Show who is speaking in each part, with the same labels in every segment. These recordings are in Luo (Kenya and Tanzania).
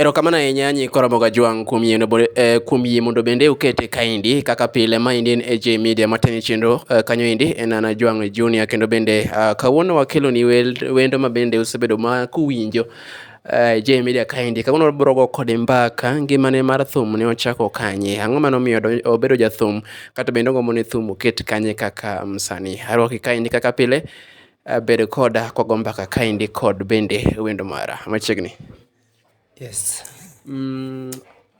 Speaker 1: Erokamano ahinya nyi Koromoga Jwang' kuom yie, eh, kuom yie mondo bende ukete kaendi kaka pile. Maendi en AJ Media mateni chenro eh, kanyo endi en Ana Jwang' Junior kendo bende uh, kawuono wakeloni wendo ma bende usebedo ma kuwinjo uh, eh, AJ Media kaendi. Kawuono wabrogo kode mbaka ngimane mar thum ne ochako kanye, ang'o mane omiyo obedo jathum kata bende ogombo ni thum oket kanye kaka msani. Um, Arwaki kaendi kaka pile, uh, bedo koda kwago mbaka kaendi kod bende wendo mara machiegni. Yes.
Speaker 2: Mm,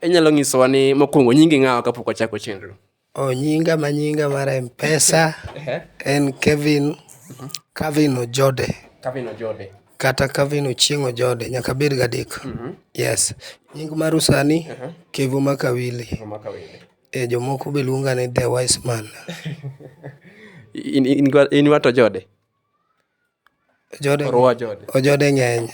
Speaker 1: inyalo nyisowa ni mokwongo nyingi ng'awa kapok wachako chenro? Oh, nyinga ma
Speaker 2: nyinga mar M-Pesa en Kevin Kevin Ojode. Kevin Ojode.
Speaker 1: Kata Kevin
Speaker 2: Ochieng Ojode, nyaka bed gadek. Mm -hmm. Yes. Nying mar usani uh -huh. Kevo Makawili. Kevo Makawili. E eh, jomoko be luonga ni The Wise Man.
Speaker 1: in, in, in, in wato Ojode? Ojode Thorwa
Speaker 2: jode. ojode ng'eny.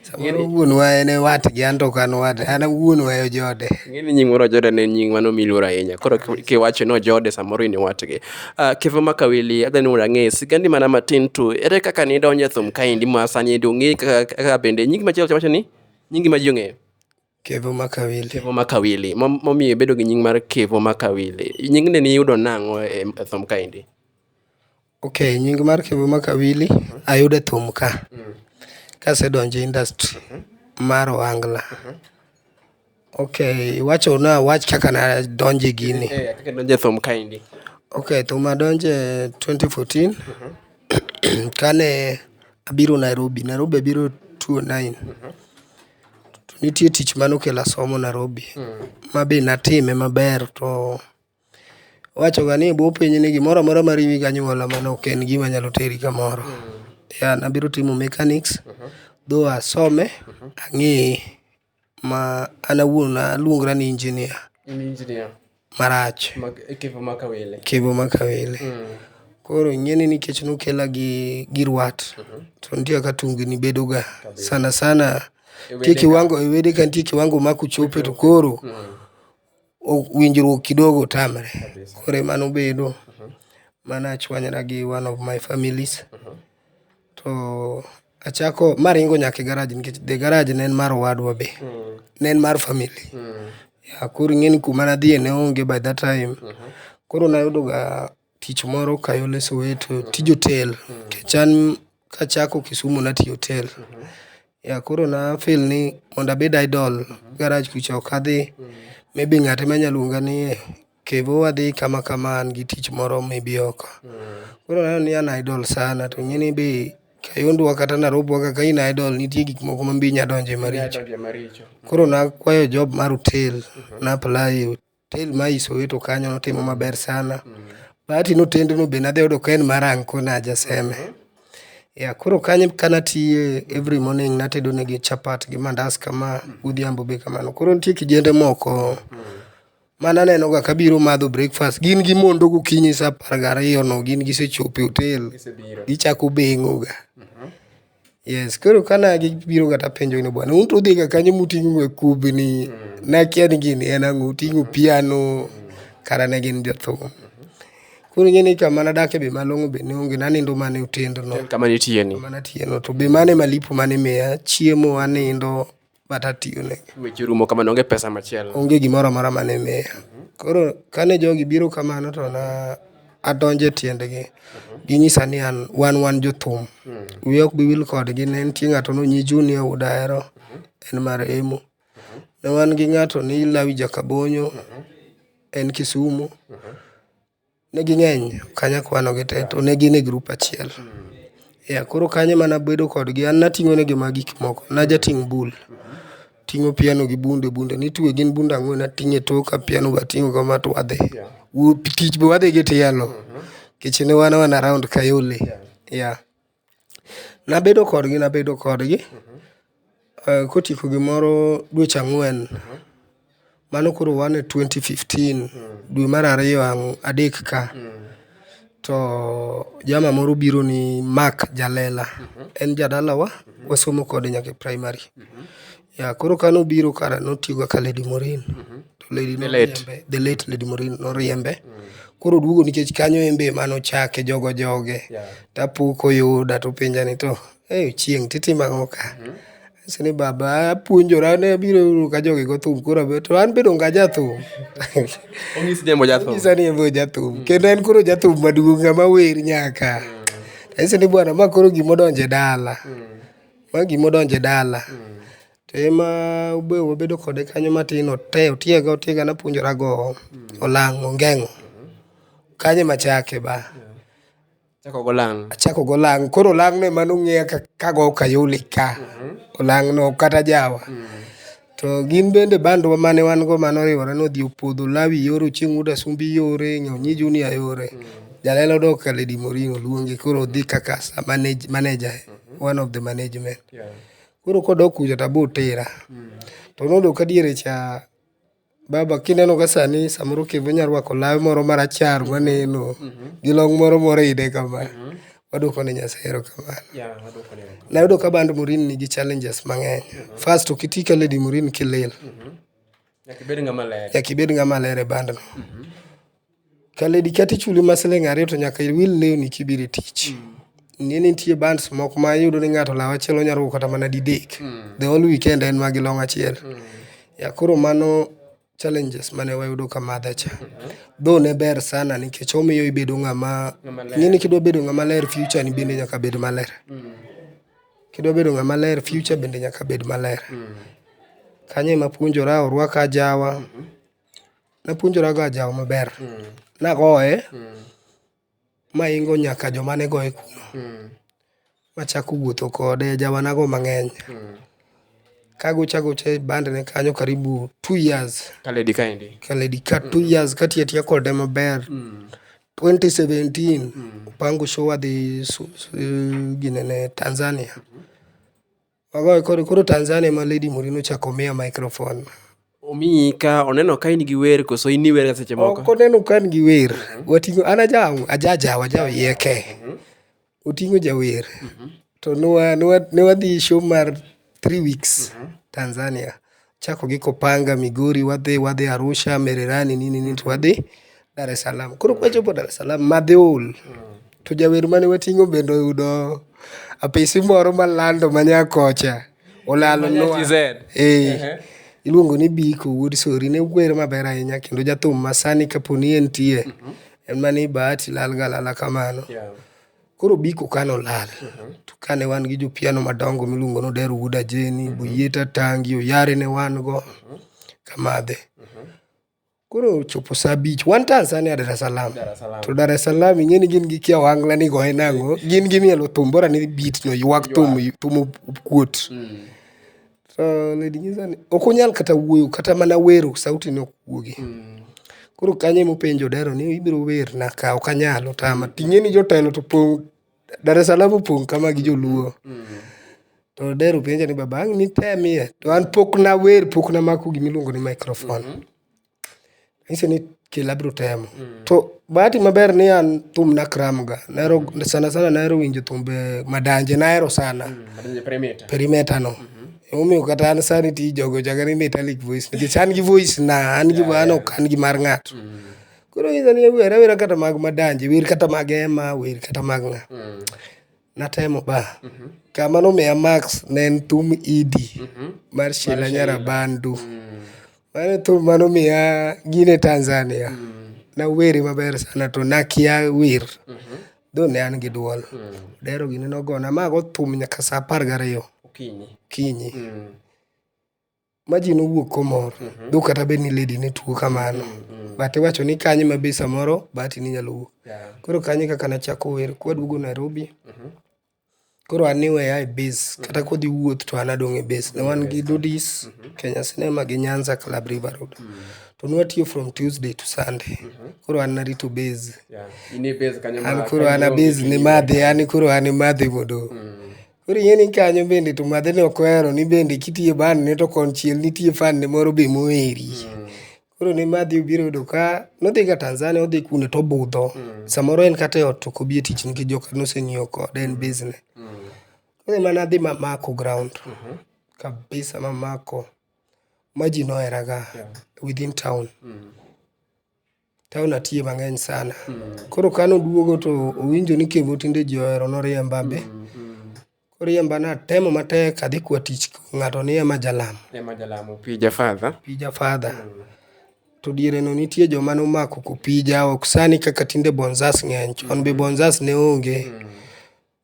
Speaker 2: Samoro wuonwa en e watgi an to ok an wade. An wuonwa e ojode. Ing'e ni nying moro Ojode
Speaker 1: ne en nying mano miluoro ahinya. Koro ki- kiwacho ni Ojode samoro in iwatgi. Uh, Kevo Makawili, adhi ni mondo ang'e sigandi mana matin tu. Ere kaka nidonje thum kaendi ma sani endi ong'e kaka, kaka bende nyingi machielo wacho ni nyingi ma ji ong'eyo? Kevo
Speaker 2: Makawili. Kevo Makawili.
Speaker 1: Momiyo ibedo gi nying mar Kevo Makawili. Nying ne niyudo nang'o e, e thum kaendi?
Speaker 2: Okay, nying mar Kevo Makawili ayudo e thum ka. Mm. Kasedonjo industry mm -hmm. mar Ohangla. Mm -hmm. Okay, iwacho na wach kaka na donje gini. Eh, eh kaka donje thum
Speaker 1: kaendi. Okay, thum
Speaker 2: adonje 2014. Mm -hmm. Kane abiro Nairobi. Nairobi abiro 2009. Mm -hmm. To nitie tich mane okela somo Narobi ma be natime maber to iwacho ga ni e bwo piny ni gimoro amora ma riwi gi anyuola mano ok en gima nyalo teri kamoro. Yeah, nabiro timo mechanics though asome ang'eye ma an awuon aluongra ni engineer. In engineer. marach. Kevo maka wele. Kevo maka wele. Koro ing'eni nikech nokela gi gi rwat, to nitie kaka tungni bedo ga. Sana sana nitie kiwango e wede ka nitie kiwango ma kuchope to koro winjruok kidogo tamre. Koro e mano bedo, mano achwanyra gi one of my families. To achako ma aringo nyaka e garaj nikech the garaj ne en mar owadwa be. Ne en mar family. Yeah, koro ing'e ni kuma nadhiye ne onge by that time. Koro nayudoga tich moro Kayole Soweto, tij otel. Nikech an kachako Kisumu natiyo e otel. Yeah, koro na feel ni mondo abed idle garaj kucha ok adhi. Maybe ng'at ema nya luonga ni eh. Kevo wadhi kama kama an gi tich moro mibi oko. Koro aneno ni an idol sana to ing'e ni be Kayondwa kata Narobi wa kaka in idol nitie gik moko ma mbi nya donje maricho. Donje maricho. Koro nakwayo job mar hotel, na apply e hotel ma i Soweto kanyo notimo maber sana. Bahati ni otendno be nadhi ayudo ka en mar anko na jaseme. Yeah, koro kanyo kanatiye every morning natedo negi chapat gi mandas kama godhiambo be kamano. Koro nitie kijende moko Mano anenoga ka biro madho breakfast. Gin gimondo gokinyi sa apar gariyono gin gisechopo e otel. Gichako beng'oga. Yes, koro ka na gibiroga tapenjogi ni bwana un to udhiga kanyo muting'oga kubni, nakia ni gini en ang'o, uting'o piano, kara ne gin jothum. Koro ing'e ni kama nadake be malong'o be ne onge, nanindo mana e otendno. Kama nitiyeni. Kama
Speaker 1: natiyeno to be
Speaker 2: mano e malipo mane imiya, chiemo, anindo. but atiyone. Weche orumo kamano, onge
Speaker 1: pesa machielo. Onge gimoro amora mane
Speaker 2: miya. Koro kane jogi biro kamano to na adonjo e tiendgi. Ginyisa ni an wan wan jothum. Wiya ok bi wil kodgi. Ne nitie ng'ato no nyi Junior Wood Ahero, en marehemu. Ne wan gi ng'ato ni Lawi Jakabonyo, en Kisumu. Ne ging'eny ok anyal kwano gi tee to ne gin e grup achiel. Yeah koro kanyo emane abedo kodgi an nating'o negi mana gik moko najating' bul, ating'o piano gi bunde bunde nitwe gin bunde ang'wen ating'o e toka piano be ating'o kama to wadhi. Tich be wadhi gi tielo nikech ne wan around Kayole, yeah Nabedo kodgi nabedo kodgi eh, kotieko gimoro dweche ang'wen mano koro wan e 2015 dwe mar ariyo ang- adek ka to jama moro biro ni mak jalela en jadalawa wasomo kode nyaka e primary Yeah, koro ka nobiro kara notiyoga ka Lady Morin. To Lady The late. noriembe, the late Lady Morin noriembe. Koro oduogo nikech kanyo en be ema nochake jogo joge. Yeah. Tapo koyuda to penja ni to, hey, chieng' titimo ang'o ka? Anyise ni baba apuonjora ne abiro yudo ka jogi go thum koro abe- to an be donge ajathum. Onyis
Speaker 1: jembo jathum. Nyisa ni en be ojathum.
Speaker 2: Kendo en koro jathum maduong' ng'ama wer nyaka. Anyise ni bwana ma koro gima odonje dala. Ma gima odonjo e dala. To e ma be wabedo kode kanyo matin ote otiega otiega napuonjora gowo, olang' ongeng'o. Kanyo e ma achake ba. Ichako go olang'. Achako go olang'. Koro olang' no e ma nong'eya ka ago kayole ka. Olang' no kata jawa. To gin bende bandwa mane wan go mane oriwore ni odhi opodho Lawi yore, Ochieng Wuod Asumbi yore, Nyonyi Junior yore. Jalelo dok ka Lady Moringo luonge koro odhi kaka sa manage, manager, one of the management. Koro kodok kucha to abiro tera. To noyudo ka diere cha baba kineno ka sani samoro okibe onya rwako lawe moro marachar maneno gi long' moro moridhe kama. Waduoko ne Nyasaye erokamano. Nayudo ka band Murini nigi challenges mang'eny. First, ok iti ka Lady Murini kilil. Nyaka ibed ng'ama ler e bandno. Ka lady kata ichuli mana siling' ariyo to nyaka iwil lewni kibiro e tich. Ing'e ni nitie bands moko ma iyudo ni ng'ato law achiel onya rwako kata mana didek. The whole weekend en mana gi long' achiel. Koro mano. Challenges mane wayudo ka madha cha. Though ne ber sana nikech omiyo ibedo ng'ama ing'e ni kidwa bedo ng'ama ler future ni bende nyaka bed maler. Kidwa bedo ng'ama ler future bende nyaka bed maler. Kanyo ema apuonjora orwaka ajawa. Napuonjora go ajawa maber. Nagoye. maingo nyaka joma ne goye kuno machako wuotho kode jawanago mang'eny kagocho agocha e bandne kanyo karibu two years Kaledi kaendi.
Speaker 1: kaledi ka two
Speaker 2: years katiyo atiya kode maber 2017 opango show wadhi su- su- ginene tanzania Magoye koro koro Tanzania ma Lady Murino ochako miya microphone. Omiyi
Speaker 1: ka oneno ka in gi wer koso in iwer ga seche moko. Ok oneno ka in gi wer.
Speaker 2: Wating'o an ajaw ajajaw ajaw yeke. Mhm. Oting'o jawer. Mhm. To nwa nwa ne wadhi show mar 3 weeks mhm. Tanzania. chako gi Kopanga, Migori, wadhi wadhi Arusha, Mererani nini nini to wadhi Dar es Salaam. Koro kwachopo Dar es Salaam madhi ol. To jawer mane wating'o bende oyudo apisi moro malando ma Nyakocha. Olalo nwa. GZ. Eh. Ehe. Iluongo ni Biko Wuod Sori ne wer maber ahinya kendo jathum masani kaponi entie. En mani Bahati lal galala kamano. Yeah. Koro Biko ka nolal, to kane wan gi jopiano madongo miluongo ni Odero Wuod Ajeni, Boyieta Tangi, Oyare ne wan go, Kamadhe. Koro ochopo sa abich, wan Tanzania Dar es Salaam. Dar es Salaam. To Dar es Salaam ing'e ni gin gi kia wangla ni goye nang'o, gin gimielo thum bora ni beat no ywak thum thum okuot. So Lady Nyiza ni ok onyal kata wuoyo kata mana wero sauti ne ok wuogi. Koro kanyo ema openjo Odero ni ibiro werna ka ok anyal otama. Ting'e ni jotelo to pong' Dar es Salaam opong' kama gi joluo. To Odero penja ni baba ang' nitemie to an pok nawer pok namako gima iluongo ni microphone. Nahisi ni kila abiro temo. To bahati maber ni an thum nakramga. Nahero sana sana nahero winjo thumbe madanje nahero sana. Madonje Perimeter.
Speaker 1: Perimeter no.
Speaker 2: Emomiyo kata an sani ti jogo chaka ni metallic voice. Nikech an gi voice na, an gi an ok an gi mar ng'ato. Koro inyisa ni awer awera kata mag madanje, wer kata mag Ema, wer kata mag ng'a. Natemo ba. Kama nomiya max ne en thum idi mar Sheila Nyarabandu. Mano e thum mane omiya gini e Tanzania. Nawere maber sana to nakia wer. Though ne an gi duol. Dero gini nogona ma ago thum nyaka sa apar gariyo okinyi. ma ji nowuok komor mm-hmm. dho kata bed ni lady ne tuo kamano mm-hmm. but iwacho ni kanye ma be samoro bahati ni nyalo wuok yeah. koro kanye kaka nachako wer kwaduogo nairobi mm-hmm. koro an niweya e base kata kodhi wuoth to an adong' e base ne wan gi dudis mm-hmm. kenya cinema gi nyanza club river road mm-hmm. to nwatiyo from tuesday to sunday mm-hmm. koro an narito base yeah. an koro an a base ni madhi an koro an imadhi mondo mm-hmm. Koro ing'e ni kanyo bende to madhe ne ok ohero ni bende kitiye ban ne to konchiel nitie fan ne moro be moheri. Koro ne madhi obiro yudo ka nodhi ga Tanzania odhi kune to obudho. Samoro en kata e ot to ok obi e tich nikech joka noseng'iewo kode en business. Koro ema nadhi mamako ground kabisa mamako ma ji nohera ga within town. Town atiye mang'eny sana. Koro kane oduogo to owinjo ni Kevo tinde ji ohero noriemba be. Koriemba natemo matek adhi kwa tich ng'ato ni ema jalam. Ema jalamo pija
Speaker 1: father. Pija father.
Speaker 2: To diereno nitie joma nomako kopija ok sani kaka tinde bonzas ng'eny. Chon be bonzas ne onge.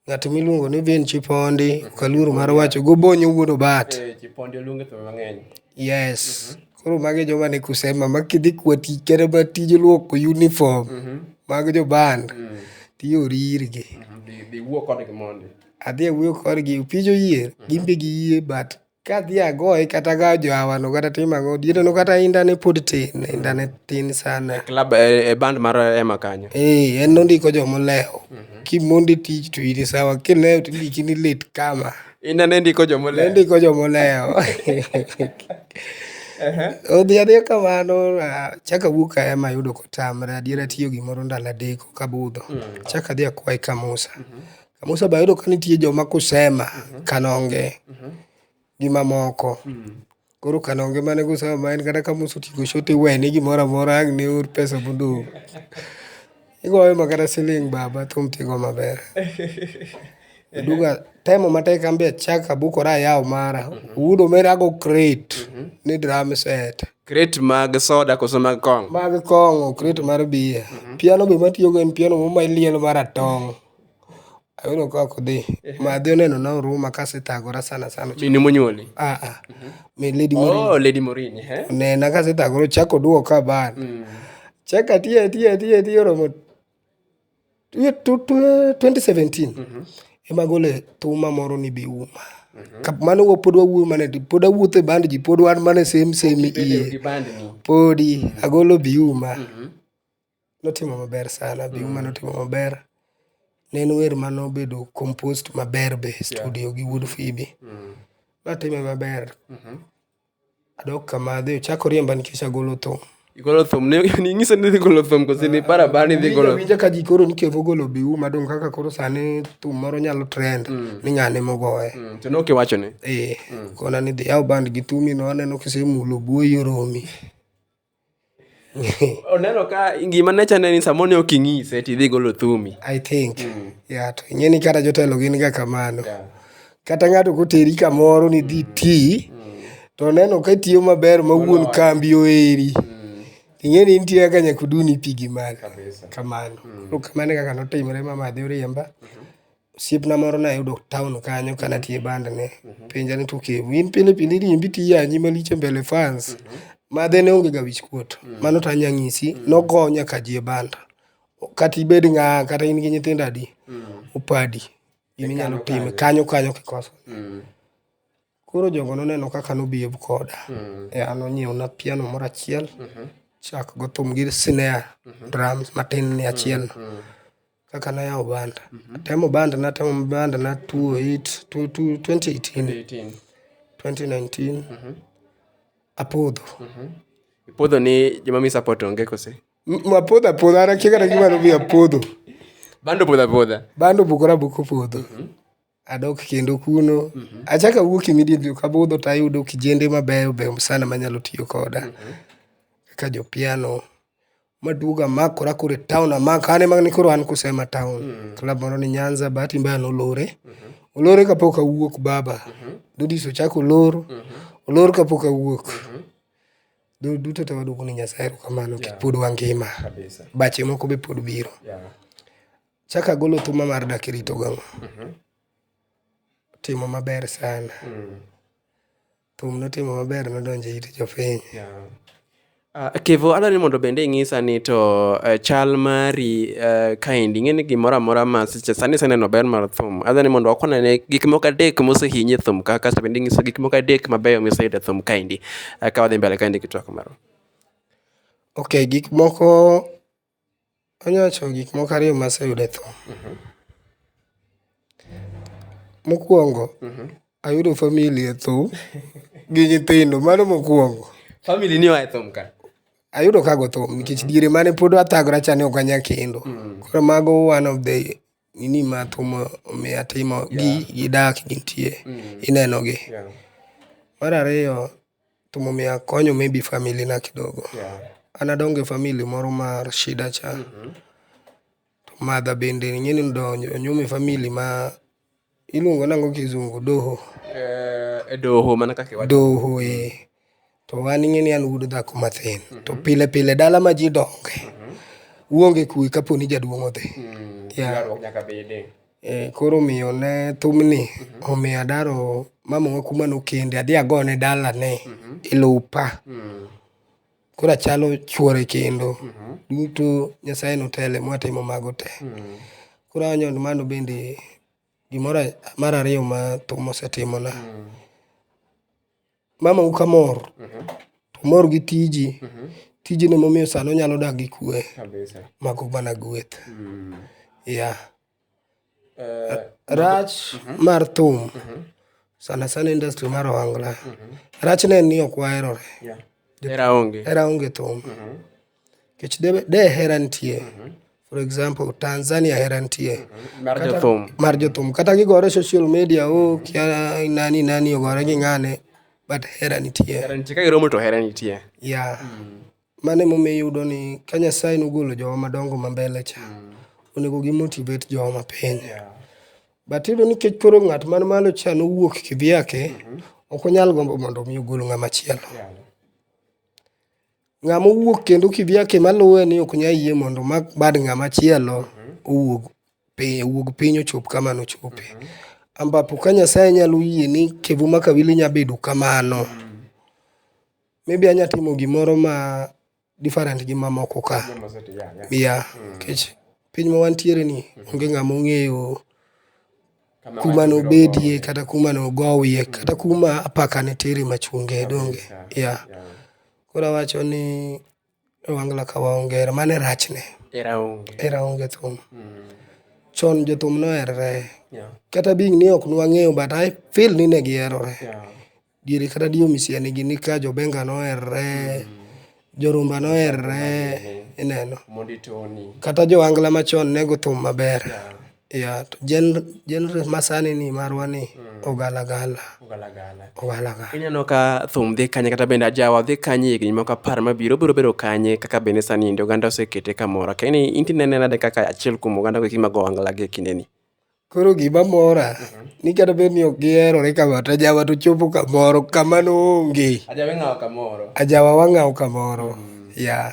Speaker 2: Ng'at miluongo ni Vin Chipondi, ok aluor mar wacho, gobonyo wuod obat. Eh, Chipondi oluonge thum
Speaker 1: mang'eny. Yes. Mhm.
Speaker 2: Koro magi joma ni kusema ma kidhi kwa tich kata ma tij luoko uniform mhm. mag jo band mm. tiyori irgi. Mhm. Dhi wuo kodgi
Speaker 1: mondi. Adhi awuoyo kodgi,
Speaker 2: opija oyier, gin be giyie but Kadhi agoye kata aga johawa no kata tim ang'o diere no kata inda ne pod tin, inda ne tin sana. Club e, e band
Speaker 1: mar Ema kanyo. Eh, en nondiko
Speaker 2: jomolewo. Kimondi tich to in sawa, kilewo to indiki ni lit kama. Inda ne ndiko
Speaker 1: jomole. Nondiko jomolewo.
Speaker 2: Odhi adhiya kamano, ah, chaka wuok a ema yudo kotamre, adiera tiyo gimoro ndalo adek kabudho. Chaka adhi akwaye ka Musa. Kama oseba yudo ka nitie joma kusema, mhm. kanonge, mhm. gi mamoko. Mhm. Koro kanonge mane kusema ma en kata kama oseting'o shot iwene gimoro amora ang' ne or pesa modong'. Igoyo ma kata siling' baba thum tigo maber. Duga temo matek an be achak abukora ayawo mara. Wudo mera ago crate ni drum set. Crate mag
Speaker 1: soda koso mag kong'o? Mag kong'o, crate
Speaker 2: mar beer. Piano be matiyogo en piano moro ma ilielo maratong'. Ayudo ka ok dhi. Ma adhi oneno na Oruma ka asethagora sana sana. Mine monyuoli?
Speaker 1: Ah ah. Mi
Speaker 2: Lady Morini. Oh, Lady Morini.
Speaker 1: eh? Onena ka asethagora
Speaker 2: ochako duogo ka bana. Mm. Chaka tiye tiye tiye tiye oromo tiye tu- tu- 2017. Ema gole thuma moro ni bi uma. Ka mano wa pod wawuoyo mana di- pod awuotho e band ji pod wan mana e same same Bedo iye. gi band ni. Podi agolo bi uma. Notimo maber sana be mm. notimo maber ne en wer ma nobedo compost maber be studio yeah. gi wuod fibi mm. natime maber mm -hmm. adok kama adhi ochako riemba nikech agolo thum igolo thum
Speaker 1: ning'iso ni dhi golo thum kosi ni para bara ni dhi golo winja ka ji koro nikevo
Speaker 2: golo biu madong kaka koro sani thum moro nyalo trend mm. ni ng'ane mogoye mm. to nokiwacho ni
Speaker 1: ee eh, mm. kona ni
Speaker 2: dhi yaw band gi thumi no aneno kisemulo buoyi oromi
Speaker 1: oneno ka gima ne chane ni samoro ne ok ing'ise to idhi golo thumi i think
Speaker 2: mm. yeah, to ing'e ni kata jotelo gin ga kamano yeah. kata ng'ato koteri kamoro ni dhi mm. ti mm. to oneno ka tiyo maber ma wuon kambi oeri mm. ing'e ni nitie kaka nyaka uduni pigi malo kamano mm. kamano e kaka notimre mama adhi oriemba mm -hmm. osiepna moro nayudo town kanyo ka natie band ne mhm. penja ni to okay in pile pile iriembi tiyanyi malich e mbele fans mhm. madhe ne onge ga wich kuot mhm. mano to anya nyisi nogo nyaka ji e band kata ibed ng'a kata in gi nyithindo adi opadi gima inyalo time kanyo kanyo kikoso koro jogo noneno kaka nobiev koda ya nonyiewna piano moro achiel chak go thum gi snare drums matin ni achielno kaka nayawo banda. Atemo banda, natemo banda na 28, 2018, 2019. Apodho.
Speaker 1: Ipodho ni joma mi support onge kose? M- Apodho apodho,
Speaker 2: an akia kata gima nomiyo apodho. Bando podha
Speaker 1: podha. Bando bukora buko
Speaker 2: podho. Adok kendo kuno. Achako awuok immediately ok abudho to ayudo kijende mabeyo beyo sana manyalo tiyo koda. Kaka jo piano. Maduogo amakora koro e town amako an ema koro an kusema town. Club moro ni Nyanza bahati mbaya nolore. Olore kapok awuok baba. Dudis ochako olor. Olor kapok awuok. Dho duto te waduoko ne Nyasaye erokamano nikech pod wangima. Bache moko be pod biro. Chako agolo thuma mar dak irito gang'o. Timo maber sana. Thum notimo maber nodonjo e it jopiny. Ah,
Speaker 1: Kevo, adwaro ni mondo bende inyisa ni to eh, chal mari eh, kaendi ing'e ni gimoro amora ma seche sani iseneno ber mar thum. Adwaro ni mondo wakwan ane gik moko adek mosehinyi e thum ka kasto bende inyisa gik moko adek mabeyo miseyudo e thum kaendi. Eh, Ka wadhi mbele kaendi gi twak marwa.
Speaker 2: Ok, gik moko Anya wacho gik moko ariyo ma aseyudo e tho. Mokuongo, ayudo family e tho gi nyithindo, mano mokuongo. Family ni oa e
Speaker 1: thum ka. Ayudo ka go
Speaker 2: thum nikech diere mane pod athagora cha ne ok anya kendo. Koro mago one of the nini ma thum omiya timo gi gi dak gintie ineno gi. Mar ariyo, thum omiya konyo maybe family na kidogo. An adonge family moro mar shida cha, to mother bende ing'eni odonjo onyuome family ma. Iluongo nango kizungu doho. Eh, e
Speaker 1: doho mana kaka iwacho. Doho eh.
Speaker 2: To an ing'e ni an wuod dhako mathin. Mm -hmm. To pile pile dala ma ji donge. Mm -hmm. Uonge kuwe kapo ni jaduong' odhi. Mm -hmm. Yeah. Yaro nyaka
Speaker 1: bede. Eh, koro miyo
Speaker 2: ne thumni mm -hmm. omiyo adaro mama kuma nokende adhi agone dala ne mm -hmm. ilupa. Mm -hmm. koro achalo chuore kendo. Duto Nyasaye notele mwatimo mago te. Koro awanyo ni mano bende gimoro mar ariyo ma thum osetimona. Mamau ka mor, to omor gi tiji, tijni emomiyo sani onyalo dak gi kwe. Mago mana gweth. Yeah. Eh, rach mhm. mar thum mhm. sana sana industry mar ohangla mhm. rach ne en ni ok waherore hera onge thum kech de hera nitie for example tanzania hera nitie mar jothum kata gigore social media o oh, kia nani nani ogore gi ng'ane but hera nitie
Speaker 1: ya
Speaker 2: Mano emomiyo iyudo ni ka Nyasaye nogolo jowa madongo ma mbele cha, onego gi motivate jowa mapiny. But iyudo ni nikech koro ng'at man malo cha nowuok kivyake, ok onyal gombo mondo omi ogol ng'ama chielo. Ng'ama owuok kendo kivyake maluwe ni ok nyal yie mondo omak bad ng'ama chielo owuog piny, owuog piny ochop kama nochope. Ambapo ka Nyasaye nyalo yie ni Kevuma Kawili nya bedo kamano. Maybe anya timo gimoro ma different gi mamoko ka. Yeah, nikech piny ma wantiere ni onge ng'ama ong'eyo kuma nobedie kata kuma nogowie kata kuma apaka ne tere machunge donge. Yeah, koro awacho ni Wangla ka waonge hera, mano e rachne. Hera onge. Hera onge thum. Mm. Chon jothum noherre. Yeah. Kata bing ni ok nwang'eyo but I feel ni ne giherore. Yeah. Diere kata dio misiani gi ni ka jobenga noherre. Mm. Jorumba noherre. Ineno. Mondi Tony. Kata jo angla machon ne go thum maber. Yeah. Yeah, to gen- genre masani ni marwa ni ogalagala. Ogalagala.
Speaker 1: Ogalagala. Ineno ka thum dhi kanye kata bende ajawa dhi kanye higni moko apar mabiro biro bedo kanye kaka bende sani ndi oganda osekete kamoro. Ka ini inti nene nade kaka achiel kuom oganda go eki mag ohangla gi e kindeni. Koro gima
Speaker 2: mora ni kata bed ni ok giherore kama to ajawa to chopo kamoro kama noonge. Ajawa ing'awo kamoro. Ajawa wang'awo kamoro. Yeah.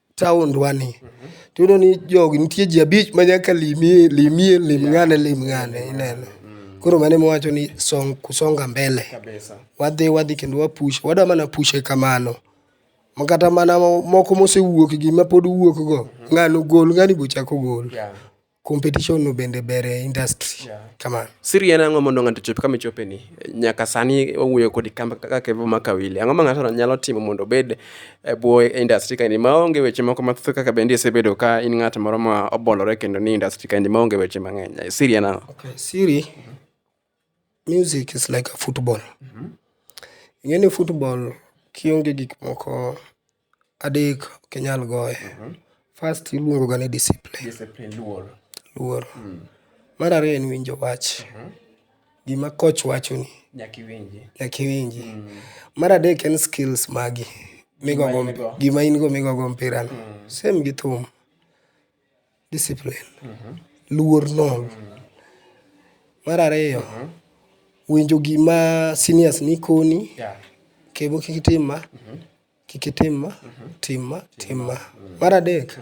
Speaker 2: taondwa ni tiyudo ni jogi nitie ji abich ma nyaka limie limie lim ng'ane lim ng'ane ineno koro mane mwacho ni song, kusonga mbele kabisa wadhi wadhi kendo wapush wadwa mana pushe kamano Ma kata mana mo- moko mosewuok gi mapod wuok go ng'ano gol ng'ani bochako gol yeah. Competition no bende ber e industry. Yeah. Kama. Siri en ang'o mondo
Speaker 1: ng'ato chop kama ichope ni? Nyaka sani owuoyo kodi kama kaka Kevo Makawili. Ang'o ma ng'ato nyalo timo mondo obed e bwo industry kaini ma onge weche moko mathoth kaka bende isebedo ka in ng'at moro ma obolore kendo ni industry kaini ma onge weche mang'eny. Siri en ang'o? Okay, siri
Speaker 2: music is like a football. Mm -hmm. Ing'e ni football kionge gik moko Adek ok inyal goye. First iluongo ga ni discipline. Discipline, luor. Luor. Mar ariyo en winjo wach. Gima coach wachoni Nyaka iwinji. nyaka iwinji. Mar adek en skills magi migogo Gima in go. gima in go migogo mpira no. Same gi thum. discipline, luor nono. Mar ariyo, winjo gima seniors ni koni, kendo kik itim ma, kik itim ma, tim ma, tim ma. Mar adek,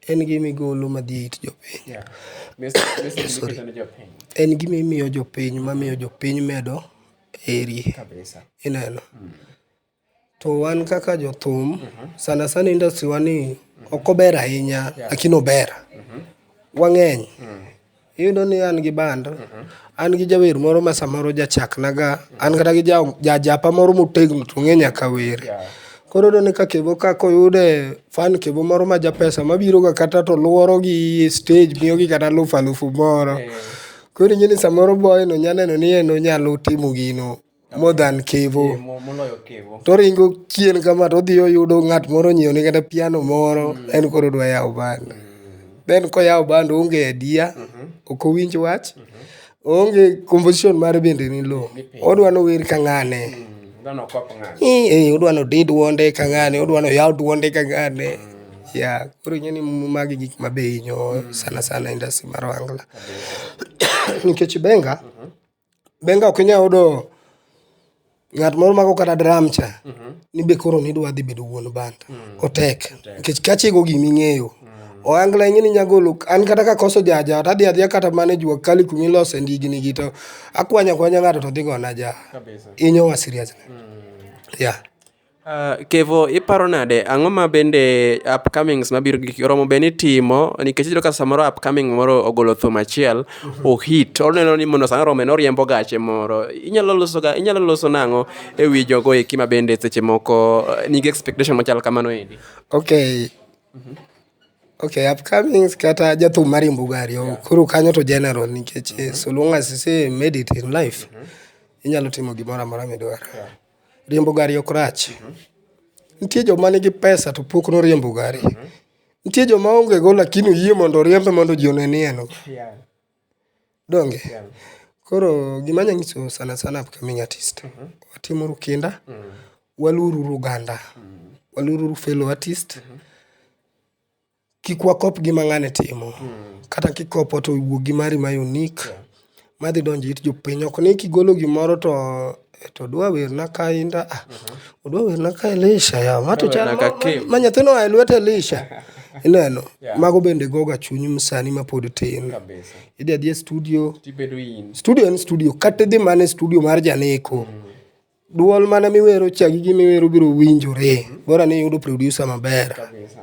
Speaker 2: en gima igolo madhi e it jopiny. Sorry. En gima imiyo jopiny mamiyo jopiny medo heri. Ineno? To wan kaka jothum, sana sana industry wa ni ok ober ahinya lakini ober. Wang'eny, iyudo ni an gi band, an gi jawer moro ma samoro jachaknaga, an kata gi jajapa moro motegno to ong'e nyaka wer. Koro iyudo ni ka Kevo ka koyude fan Kevo moro ma ja pesa mabiroga kata to lworo gi e stage miyogi kata alufu alufu moro. Koro ing'e ni samoro boy no nya neno ni en onyalo timo gino. more than kevo Eh, mo- moloyo kevo
Speaker 1: toringo chien
Speaker 2: kama todhi oyudo ng'at moro onyiewone kata piano moro en koro odwa yawo band then koyawo band oonge adia ok owinj wach oonge composition mare bende ni lo odwa nower ka ng'ane dhano kop ng'ato Eh, eh, odwa nodid dwonde ka ng'ane odwa noyaw dwonde ka ng'ane ya koro ing'e ni magi gik mabe hinyo sana sana industry mar wangla nikech benga Benga ok inyal yudo ng'at moro mako kata dram cha mhm. ni be koro nidwa dhi bedo wuon banda mm. otek nikech kachego gima ing'eyo mm. oangla ing'e ni nyagolo an kata ka koso jaja to adhi adhiya kata mane jua kali kuma ilose ndigni gi to akwanya kwanya ng'ato to dhi gona ja inyowa seriously mm. yeah Uh,
Speaker 1: Kevo, iparo nade ang'o ma bende upcomings mabiro gi oromo be ni timo nikech iyudo ka samoro upcoming moro ogolo thum achiel mhm. ohit oneno ni mondo samoro orome noriembo gache moro inyalo loso ga inyalo loso nang'o e wi jogo eki ma bende seche moko eh, nigi expectation machal kamano endi okay mm
Speaker 2: -hmm. Okay, upcomings kata jathum mariembo gari oh, yeah. koro kanyo to general nikech mm -hmm. so long as you say made it in life mm -hmm. inyalo timo gimoro amora midwaro yeah. riembo gari ok rach. Nitie joma nigi pesa to pok noriembo gari. Nitie joma onge go lakini oyie mondo oriembe mondo ji one ni en go. Donge? Koro gima anyalo nyiso sana sana upcoming artist, watimuru kinda, waluoruru oganda, waluoruru fellow artist, Kik wakop gima ng'ane timo. Kata kikopo to wuo gi mari ma unique madhi donjo it jopiny. Ok ni kigolo gimoro to to odwa werna kainda. Ah, odwa werna ka Elisha yawa. Ma to chal Werna ka Kim. ma nyathino oa e lwet Elisha. Ineno? Yeah. Mago bende goga chuny sani ma pod tin. Kabisa. Idhi adhiya e studio. Tibedo in. Studio en studio. Kata idhi mana e studio mar janeko. Duol mana miwero cha gi gima iwero biro winjore. Bora ni iyudo producer maber.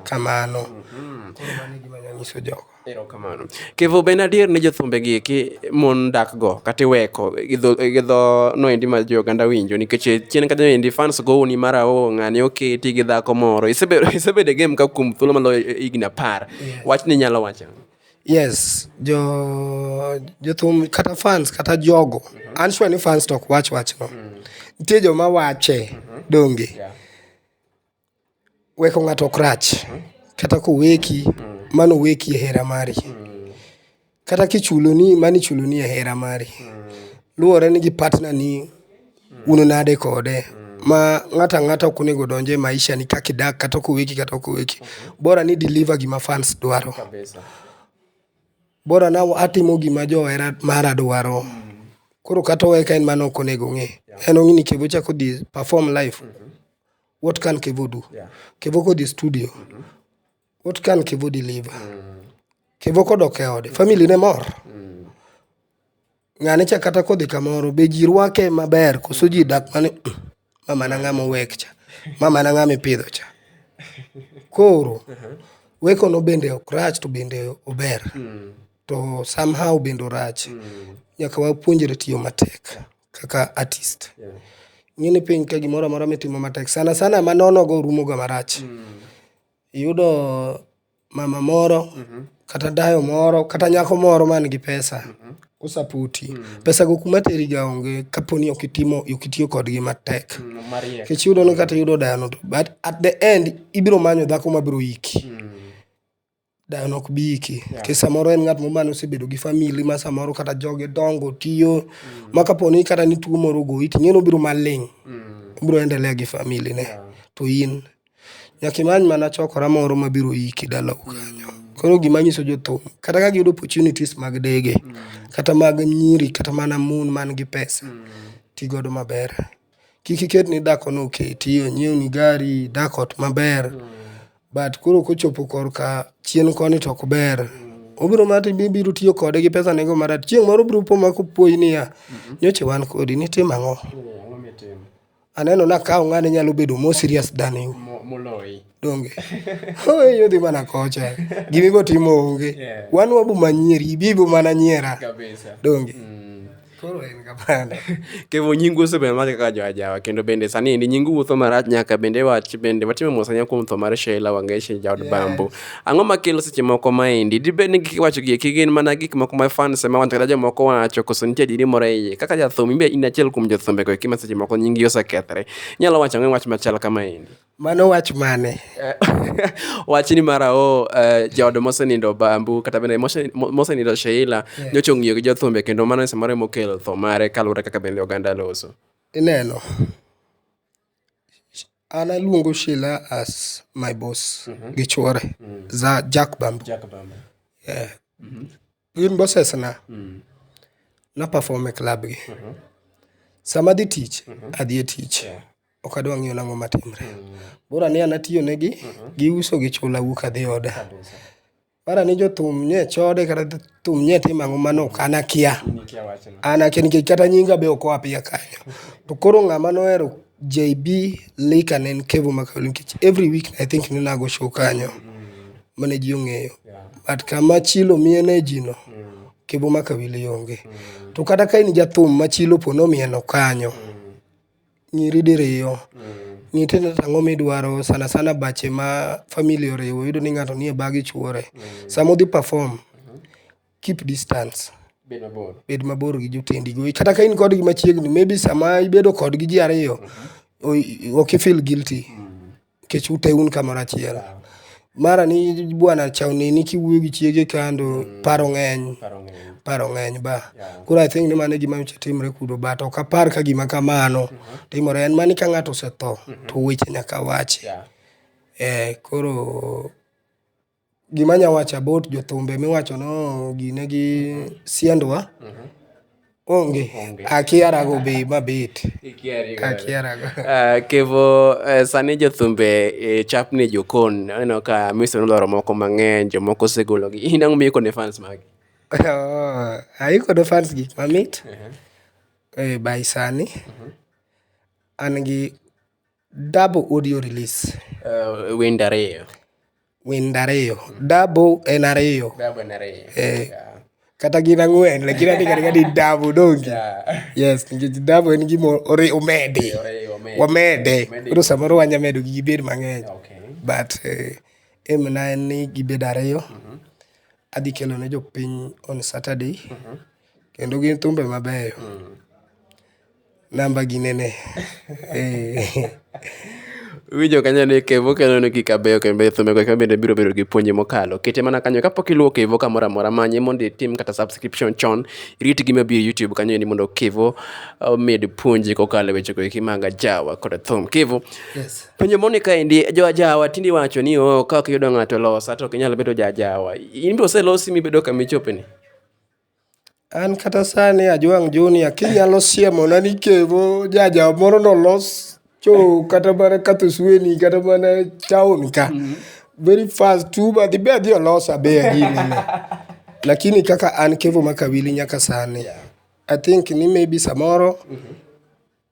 Speaker 2: Kamano. Koro mano e gima anyalo nyiso jogo. Erokamano.
Speaker 1: Kevo be en adier ni jothumbe gi eki mon dak go kata iweko gi dho gi dho no endi ma jo oganda winjo nikech e chien kanyo endi fans gowoni mar aho ng'ani oketi gi dhako moro. Isebedo isebedo e game ka kuom thuolo maloyo higni apar. Wachni inyalo wacho ang'o? Yes,
Speaker 2: jo jothum kata fans kata jogo. An sure ni fans to ok wach wachno. Nitie joma wache donge. Weko ng'ato ok rach. Kata koweki, mano oweki e hera mari. Kata kichuloni, mano ichuloni e hera mari. Luwore ni gi partner ni. un nade kode ma ng'ato ang'ata ok onego donj e maisha ni kaka idak kata ok oweki kata ok oweki bora ni i deliver gima fans dwaro bora na atimo gima johera mara dwaro koro kata owe ka en mano ok onego ong'e en ong'e ni kevo cha kodhi perform live what can kevo do kevo kodhi studio What can Kevo deliver? Kevo kodok e ode, family ne mor. Ng'ani cha kata kodhi kamoro, be ji rwake maber koso ji dak mani mama na ng'ama owek cha, mama na ng'ama ipidho cha. Koro weko no bende ok rach to bende ober. To somehow bende orach. Nyaka wapuonjre tiyo matek kaka artist. Ing'e ni piny ka gimoro amora mitimo matek sana sana manono go rumo ga marach. Iyudo mama moro kata dayo moro kata nyako moro man gi pesa osaputi. Pesa go kuma teri ga onge kapo ni ok itimo ok itiyo kodgi matek. Nikech iyudo ni kata iyudo dayono to but at the end ibiro manyo dhako ma biro iki. Dayono ok bi iki. Nikech samoro en ng'at moro mane osebedo gi family ma samoro kata joge dongo tiyo ma kapo ni kata ni tuo moro ogoyi to ing'e ni obiro maling'. Obiro endelea gi family ne to in. Nyaka imany mana chokora moro ma biro iki dalau kanyo. Koro gima anyiso jothum, kata ka giyudo opportunities mag dege, kata mag nyiri, kata mana mon man gi pesa, ti godo maber. Kik iket ni dhako ni oketi, onyiew ni gari, idak ot maber. But koro kochopo korka chien koni to ok ber. Obiro mana to ibiro tiyo kode gi pesa ne go marach. Chieng' moro obiro po ma kopuoyi niya, nyocha wan kodi, nitimo ang'o? Aneno na ka ng'ane nyalo bedo more serious than you. Mo- Moloi. Donge. Oye yodhi mana kocha. Gimi go timo onge. Yeah. Wan wabu manyeri, ibibu
Speaker 1: mana
Speaker 2: nyiera. Kabisa. Donge. Mm. Koro en kapanda. Kevo nyingu
Speaker 1: osebedo mage kaka joajawa kendo bende sani endi nyingu wuotho marach nyaka bende wach bende watimo mos ahinya kuom tho mar Sheila Wangeshi jaod Bambo Ang'o makelo seche moko maendi? Dibed ni gik kiwacho gi eki gin mana gik moko ma fans ema wacho kata jomoko wacho koso nitie adieri moro e iye. Kaka jathum imbe in achiel kuom jothumbe go eki ma seche moko nyingi osekethre. Inyalo wacho ang'o wach machal kamaendi? Mano wach mane?
Speaker 2: Eh,
Speaker 1: wach ni mara o eh, jaod mosenindo Bambu kata bende mose- mo- mosenindo Sheila nyocha ong'iyo gi jothumbe kendo mano e samoro emokelo tho mare kaluwore kaka bende oganda loso. Ineno?
Speaker 2: An aluongo Sheila as my boss gi chuore, za Jack Bambo. Jack Bamba. Yeah. Gin bosses na. Na perform e club gi. Sama adhi tich, adhi e tich. Yeah. Ok adwa ng'iyo nang'o matimre. Bora ni an atiyo negi, giuso gichula awuok adhi oda. Kabisa. Mara ni jothum nie chode kata thum nie timo ang'o mano ok an akia. An akia nikech kata nyinga be ok oa piya kanyo. To koro ng'ama nohero JB Lika ne en Kevo Makawelo nikech every week I think ne ago show kanyo mane ji ong'eyo. But kama chilo miye energy no, Kevo Makawelo onge. To kata ka in jathum ma chilo po nomieno kanyo, Nyiri diriyo. Ng'i tiende ni ang'o midwaro sana sana bache ma family oriwo iyudo ni ng'ato nie baa gi chuore. Sama udhi perform, keep distance, bed mabor gi jotendi go. Kata ka in kodgi machiegni maybe sama ibedo kodgi ji ariyo, ok i feel guilty. nikech ute un kamoro achiel mara ni bwana chawni ni kiwuoyo gi chiege kando paro ng'eny paro ng'eny ba koro i think ni mano e gima nyocha timre kuno but ok apar ka gima kamano timore en mani ka ng'ato osetho to weche nyaka wachi eh, koro Gima anya wacho about jothumbe miwacho ni gine gi siendwa, onge. Akiara go be mabet. Akiara go. Ah, Kevo,
Speaker 1: eh, sani jothumbe eh, chapni jokon, aneno ka Mr. Noloro moko mang'eny, jomoko osegologi. In ang'o miiko ne fans magi? Oh,
Speaker 2: Ayiko ne fans gik mamit. Eh, by sani, an gi Dabo audio release. Eh, wende
Speaker 1: ariyo. Wende ariyo. Dabo
Speaker 2: en ariyo. Dabo en ariyo. Eh. Yeah. Kata gin ang'wen, lakini ati kati kati dabo dongi. Yeah. Yes, nikech dabo en gima ore omede. Ore omede. Wamede. Koro samoro wanya medo gi gibed mang'eny. Okay. But eh, em na en ni gibed ariyo. Mm -hmm. Adhi kelo ne jopiny on Saturday. Mm -hmm. Kendo gin thumbe mabeyo. Mm -hmm. Namba gi nene.
Speaker 1: Iwinjo kanyo ni Kevo kelo ni gik abeyo kendo thumbe go bende biro bedo gi puonj mokalo. Kete mana kanyo kapok iluwo Kevo kamoro amora manye mondo itim kata subscription chon. Irit gima biro e YouTube kanyo endi mondo Kevo omed puonji kokalo e weche go eki mag ajawa koda thum. Kevo, Yes. penjo moni
Speaker 2: kaendi
Speaker 1: jo ajawa tinde iwacho ni oo ka ok iyudo ng'ato losa to ok inyal bedo ja ajawa. In be oselosi mibedo kama ichope ni?
Speaker 2: An kata sani Ajwang' Junior kinyalo siemona ni Kevo jaja moro nolos cho kata mana Kathusweni kata mana town ka, very fast to uber adhi be adhi olos abe agine no. Lakini kaka an Kevo Makawili nyaka sani, I think ni maybe samoro.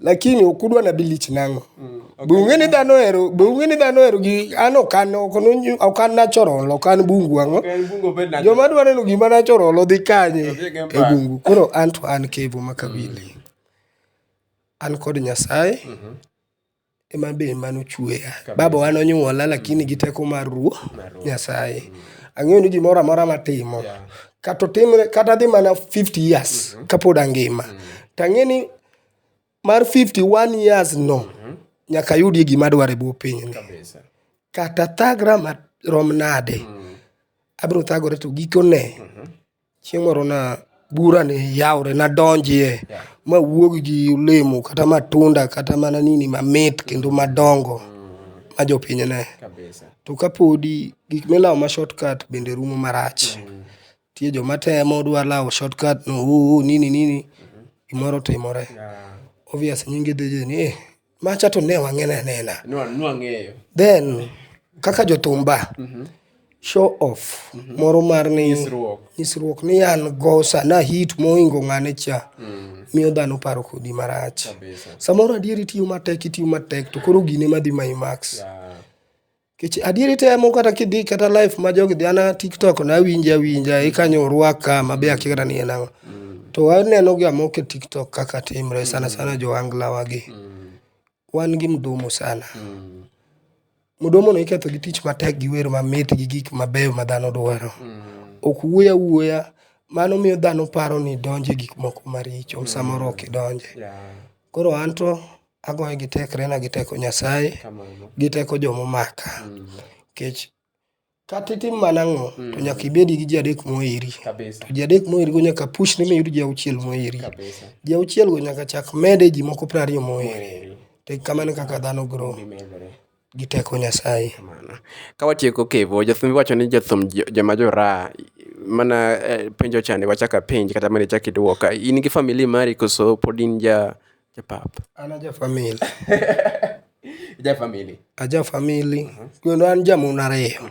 Speaker 2: lakini ok udwa nabi lich nang'o mm, okay. be ung'e ni dhano ohero be ung'e ni dhano ohero gi an ok an ok an natural ok an bungu ang'o joma dwa neno gima natural odhi kanye e bungu koro an to an kevo makabili mm. an kod nyasaye mm -hmm. ema be mane ochweya. Babawa nonyuola lakini gi teko mar Ruoth Nyasaye. Ang'eyo ni gimoro amora matimo, kata otimre, kata adhi mana 50 years kapod angima, to ang'e ni mar 51 years no, nyaka ayudie gima adwaro e bwo pinyni. Kata athagra marom nade, abiro thagore to gikone, Chieng' moro na bura ne yawre nadonjie mawuog gi olemo kata matunda kata mana nini mamit kendo madongo ma jopiny ne. To kapodi gik milawo ma shortcut bende rumo marach. Nitie joma temo dwa lawo shortcut no ooh nini nini gimoro otimore. Obvious nyingi dhi dhi ni eh. Macha to ne wang'ena nena. Nwang'eyo. Then kaka jothumba mhm. show off mhm. moro mar ni nyisruok ni an go sana hit mohingo ng'ane cha mm. miyo dhano paro kodi marach. Samoro adieri tiyo matek itiyo matek to koro gine madhi mayi max. Kech adieri temo kata kidhi kata life ma jogi dhi ana TikTok na awinja awinja ikanyo orwaka ma be akia kata ni en ang'o. Mm. To aneno gi amok e TikTok kaka timre sana sana jo angla wagi. Mm. Wan gi mdomo sana. Mm. Mdomo no iketho gi tich matek gi wer mamit gi gik mabeyo ma dhano dwaro. Mm. Ok wuoya wuoya mano miyo dhano paro ni donje gik moko maricho mm. samoro ok idonje. Yeah. Koro anto Agoye gi tekrena gi teko Nyasaye gi teko joma omaka. Nikech kata itim mana ang'o to nyaka ibed gi ji adek moheri. To ji adek moheri go nyaka push ni miyud ji auchiel moheri. Ji auchiel go nyaka chak med e ji moko piero ariyo moheri. To kamano e kaka dhano grow. gi teko Nyasaye. Ka watieko
Speaker 1: kevo, jathum wacho ni jathum joma jo raha mana penjo cha ni wachak apenj kata mondo ichak idwoka. In gi family mari koso pod in ja pap? An aja
Speaker 2: family.
Speaker 1: Ija family? Aja family
Speaker 2: kendo an ja mon ariyo.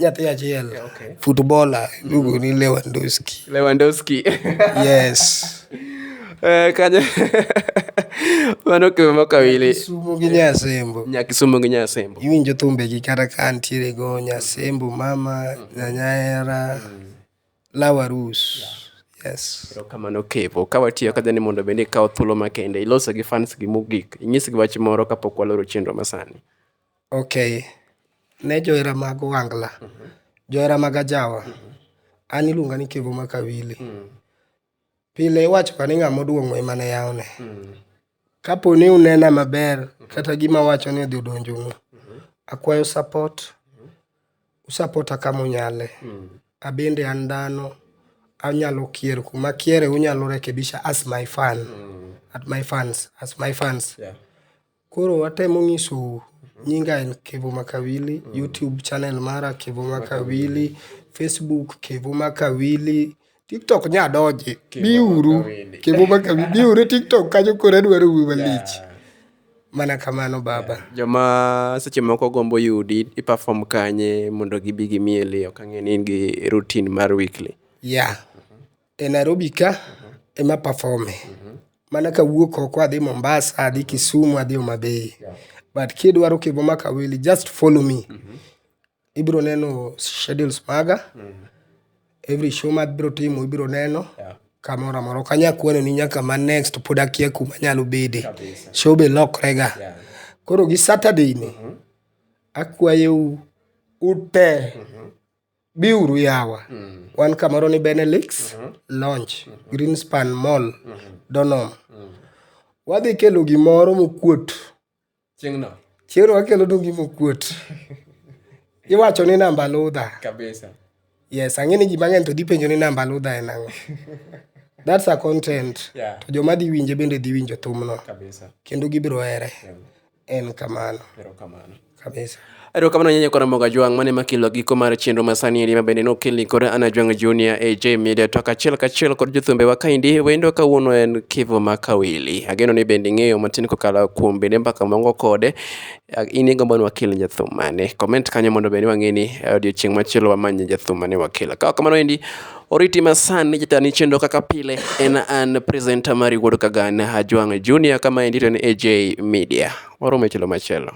Speaker 2: nyathi achiel yeah, okay. footballer iluongo ni lewandowski lewandowski yes eh,
Speaker 1: kanye mano kwe moko awili Kisumu gi Nyasembo
Speaker 2: nya Kisumu gi Nyasembo
Speaker 1: iwinjo thumbe gi kata
Speaker 2: ka ntiere go Nyasembo mama nyanyera lawa rus yes kamano kevo
Speaker 1: ka watiyo kaja ni mondo bende ikawo thuolo makende iloso gi fans gi mogik inyisgi wach moro kapok waloro chenro masani Ok,
Speaker 2: ne johera mag ohangla, johera mag ajawa, an iluonga ni Kevo Makawili. Pile iwachoga ni ng'ama oduong'o ema ne yawne. Kapo ni unena maber kata gima awacho ni odhi odonjonu, akwayo support, usapota kama unyale. Abende an dhano, anyalo kier kuma akiere unyalo rekebisha as my fan, at my fans, as my fans. Koro watemo ng'isou, nyinga en Kevo Makawili, YouTube channel mara Kevo Makawili, Facebook Kevo Makawili, TikTok nya donje. Biuru Makawili. Kevo Makawili, biuru e TikTok kanyo koro adwaro wuoyo malich. Mana kamano baba. Joma seche
Speaker 1: moko gombo yudi i perform kanye mondo gibi gimieli ok ang'e ni in gi routine mar weekly. Yeah.
Speaker 2: e Nairobi ka ema perform e. Mana kawuok oko adhi Mombasa, adhi Kisumu, adhi Homa Bay. But kidwaro kibo maka wili, just follow me. Ibiro neno schedules maga. Every show ma abiro timo ibiro neno. Kamoro amora. Ok anyal kwano ni nyaka ma next to pod akia kuma anyalo bede. Show be lokre ga. Koro gi Saturday ni, akwayou ute Biuru yawa. Wan kamoro ni Benelix, Launch, Greenspan Mall, Donom. Wadhi kelo gimoro mokuot. Chieng'no. Chieng'no wakelonu gima okuot. Iwacho ni namba ludha. Kabisa.
Speaker 1: Yes, ang'e ni
Speaker 2: ji mang'eny to dhi penjo ni namba ludha en ang'o. That's a content. Yeah. To joma dhi winje bende dhi winjo thumno. Kabisa. Kendo gibiro
Speaker 1: here.
Speaker 2: Yeah. En kamano. Erokamano. Kabisa. Erokamano nyenye
Speaker 1: kora moga jwang' mane makilo giko mar chenro masani eri mabende nokelni kod Ana Jwang' Junior AJ Media to kachiel kachiel kod jothumbe wa kaendi wendo kawuono en Kivu ma Kawili. Ageno ni bende ing'eyo matin kokalo kuom bende mbaka mongo kode. Ah, In igombo ni wakel jathum mane? Comment kanyo mondo bende wang'e ni eh, odiochieng' machielo wamanye jathum mane wakelo. Ka ok kamano endi Oriti masani jatani chenro kaka pile en an presenter mari wuod Kagan Hajwang' Junior kama endi to en AJ Media. Waromo e chelo machielo.